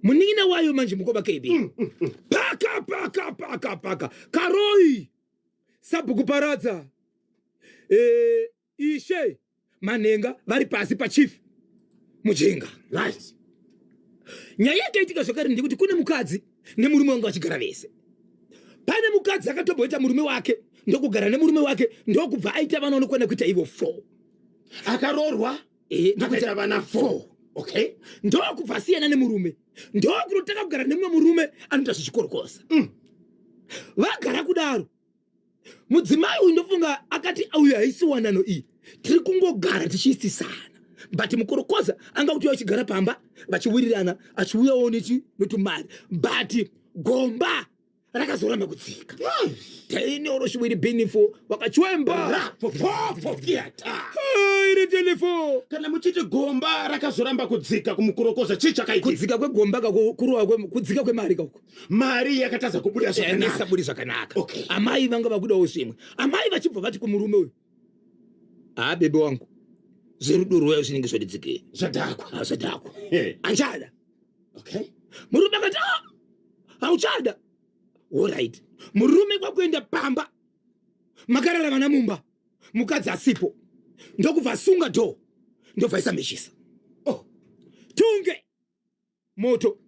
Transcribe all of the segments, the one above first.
munin'ina wayo manje mukoma kb mm, mm, mm. paka paka paka paka karoi sabhuku paradza e, ishe manhenga vari pasi pachief mujinga right nyaya yakaitika zvakare ndekuti kune mukadzi nemurume wanga vachigara vese pane mukadzi akatomboita murume wake ndokugara nemurume wake ndokubva aita vana unokwana kuita ivo four akaroorwa eh, ndokuti ava na four okay ndokubva asiyana nemurume ndokunotanga kugara nemumwe murume anoita zvichikorokosa mm. vagara kudaro mudzimai uyu ndofunga akati uyu haisi wanano iyi tiri kungogara tichiisisana but mukorokoza anga kuti achigara pamba vachiwirirana achiuyawo neti notumari but gomba rakazoramba kudzika taine oroshiwiri binifo wakachwemba iri telefo kana muchiti gomba rakazoramba kudzika kumukurokoza chii chakaitika kudzika kwegomba kako kurova kwe- kudzika kwemari kako mari yakatadza kubuda zvakanaka isaburi zvakanaka Okay. amai vanga vakudawo zvimwe amai vachibva vati kumurume uyu haa bebe wangu zverudo rwuya zvinenge zvadidzikei zvadhakwa haa zvadhakwa achada okay murume akati a ah, hauchada orit murume kwakuenda pamba makarara vana mumba mukadzi asipo ndokubva asunga dho ndobva isamechisa oh. tunge moto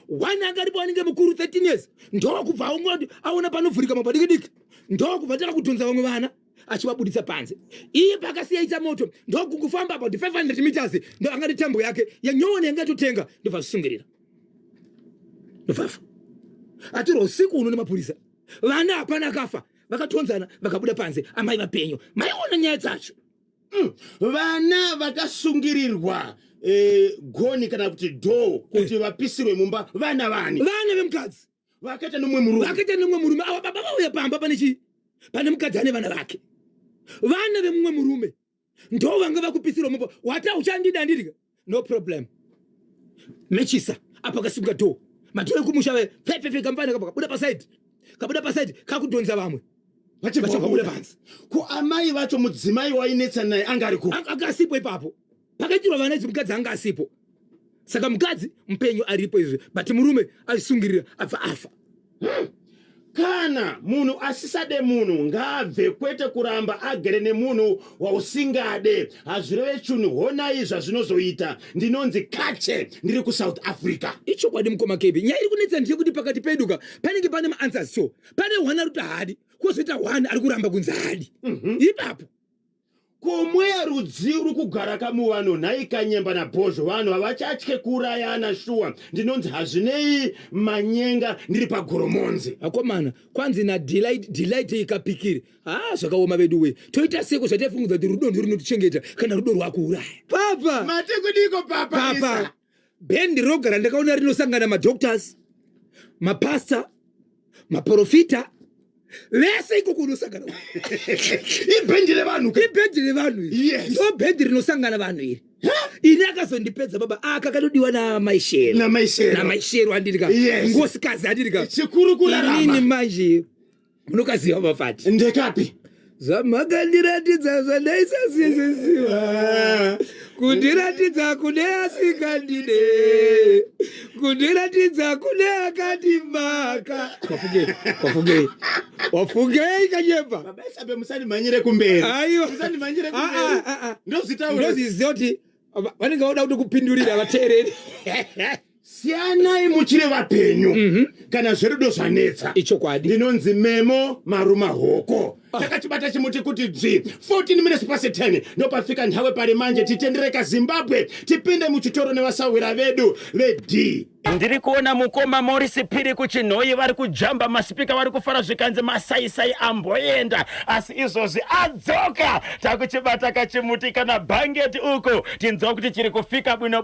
one akaripo anenge mukuru 13 years ndokubva aungoti aona panovhurika mabadiki diki ndokubva tava kutonza vamwe vana achivabuditsa panze iye pakasiya ita moto ndokungofamba about 500 meters ndo angati tambo yake yanyowani yanga itotenga ndobva zvisungirira ndovafa atirwa usiku uno nemapurisa vana hapana akafa vakatonzana vakabuda panze amai vapenyu maiona nyaya dzacho Mm, vana vakasungirirwa eh, goni kana kuti dhoo kuti vapisirwe mumba vana vani vana vemukadzi vakaita nomwe murume vakaita nemumwe murume ava baba vauya pamba pane chii pane mukadzi ane vana vake vana vemumwe murume ndo vanga vakupisirwa mumba wata uchandida ndirika no problem mechisa apa kasimuka door matore kumusha ve pfepfepfe kamfana kapa kabuda paside kabuda paside kakudhonza vamwe vachavabuda panzi ko amai vacho mudzimai wainetsa naye anga ari ku anga asipo ipapo pakaitirwa vana idzi mukadzi anga asipo saka mukadzi mupenyu aripo izvi but murume azvisungirira abva afa Hmm. Kana munhu asisade munhu ngaabve kwete kuramba agere nemunhu wausingade hazvireve chunhu honai zvazvinozoita ndinonzi kache ndiri kusouth africa ichokwadi mukoma kb nyaya iri kunetsa ndiye kuti pakati peduka panenge pane maanswers so pane one ari kuti haadi kwozoita one ari kuramba kunzi haadi mm -hmm. ipapo Ko mweya rudzii uri kugara kamuvano nhai kanyemba nabhozho vanhu havachatye kuurayana shuwa ndinonzi hazvinei manyenga ndiri pagoromonzi akomana kwanzi nadelight delight ikapikiri haa zvakaoma vedu wee toita seko zvataifungudza kuti rudo ndirinotichengeta kana rudo rwakuuraya papa mati kudiko papa papa Lisa? bhendi roga randakaona rinosangana madoctors mapastor maprofita vese ikoko unosangana ibhendi revanhu ka? ibhendi revanhu iri Yes. ndo bhendi rinosangana vanhu iri ini akazondipedza baba aka kanodiwa namaishero Namaishero. namaishero andiri ka Yes. ngosikazi andiri ka chikuru inini kurarama manje munokaziva mafati ndekapi zvamakandiratidza zvandaisasiziziva kundiratidza kune asikandide kundiratidza kune akandimaka wafungei wafungei wafungei kanyemba babaisabe musandimhanyire kumberi aiwa musandimhanyire ah, kumberi ah, ah, ndozitaura ndoziziva kuti vanenge vauda kuti kupindurira vateereri siyanai muchiri vapenyu mm -hmm. kana zverudo zvanetsa ichokwadi ndinonzi memo maruma hoko ah. takachibata chimuti kuti dzvi 14 minutes pasi 10 ndopafika nhawe pari manje titendereka zimbabwe tipinde muchitoro nevasahwira vedu vedi ndiri kuona mukoma morisi phiri kuchinhoyi vari kujamba masipika vari kufara zvikanzi masaisai amboenda asi izvozvi adzoka takuchibata kachimuti kana bhangeti uko tinzwa kuti chiri kufika bwino